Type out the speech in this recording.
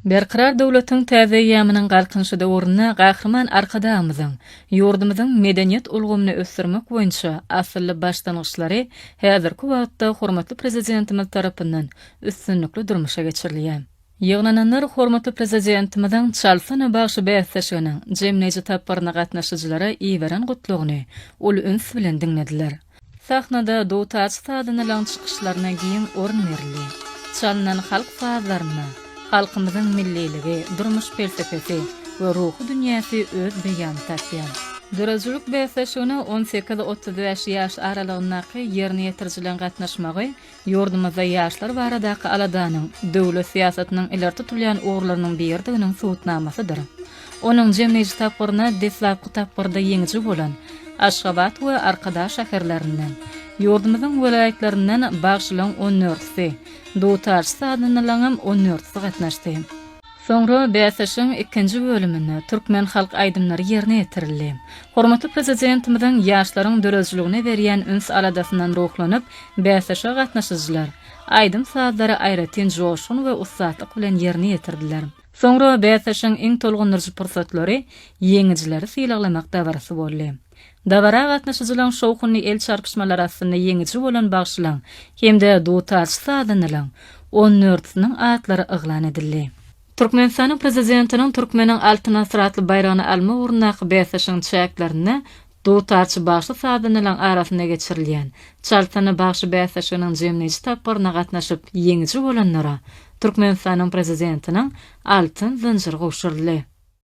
Berkarar döwletiň täze eýýamynyň Galkynyşy döwründe Gahryman Arkadagymyzyň ýurdumyzyň medeniýet ulgamyny ösdürmek boýunça asylly başlangyçlary häzirki wagtda hormatly Prezidentimiz tarapyndan üstünlikli durmuşa geçirilýär. Ýygnananlar hormatly Prezidentimiziň Çalsana bagşy bäsleşiginiň jemleýji tapgyryna gatnaşyjylara iberen gutlagyny uly üns bilen diňlediler. Sahnada dutar sazynylaň çykyşlaryna giň orun berildi. Çalnan halk sazlarynda halkymyzyň milliligi, durmuş pelsepesi we ruhy dünýäsi öz beýanyny tapýar. Döredijilik bäsleşigine on sekiz-otuz bäş ýaş aralygyndaky ýerine ýetirijileň gatnaşmagy Ýurdumyzda ýaşlar baradaky aladanyň döwlet syýasatynyň ileri tutulýan ugurlarynyň biridiginiň subutnamasydyr. Onuň jemleýji tapgyryna deslapky tapgyrda ýeňiji bolan Aşgabat we Arkadag şäherlerinden, ýurdumyzyň welaýatlaryndan bagşylaň on dörtüsi, dutarçy-sazandalaryňam on dörtüsi gatnaşdy. Soňra bäsleşigiň ikinji bölüminde türkmen halk aýdymlary ýerine ýetirildi. Hormatly Prezidentimiziň ýaşlaryň döredijiligine berýän üns-aladasyndan ruhlanyp, bäsleşige gatnaşyjylar aýdym-sazlary aýratyn joşgun we ussatlyk bilen ýerine ýetirdiler. Soňra bäsleşigiň iň tolgundyryjy pursatlary, ýeňijileri sylaglamak dabarasy boldy. Dabara gatnaşyjylaryň şowhunly el çarpyşmalary astynda ýeňiji bolan bagşylaryň hem-de dutarçy sazandalaryň on dörtüsiniň atlary yglan edildi. Türkmenistanyň Prezidentiniň Türkmeniň Altyn asyry atly baýragyny almak ugrundaky bäsleşigiň çäklerinde dutarçy bagşy-sazandalaryň arasynda geçirilýän Çaltsyny bagşy bäsleşiginiň jemleýji tapgyryna gatnaşyp ýeňiji bolanlara Türkmenistanyň Prezidentiniň Altyn zynjyry gowşuryldy.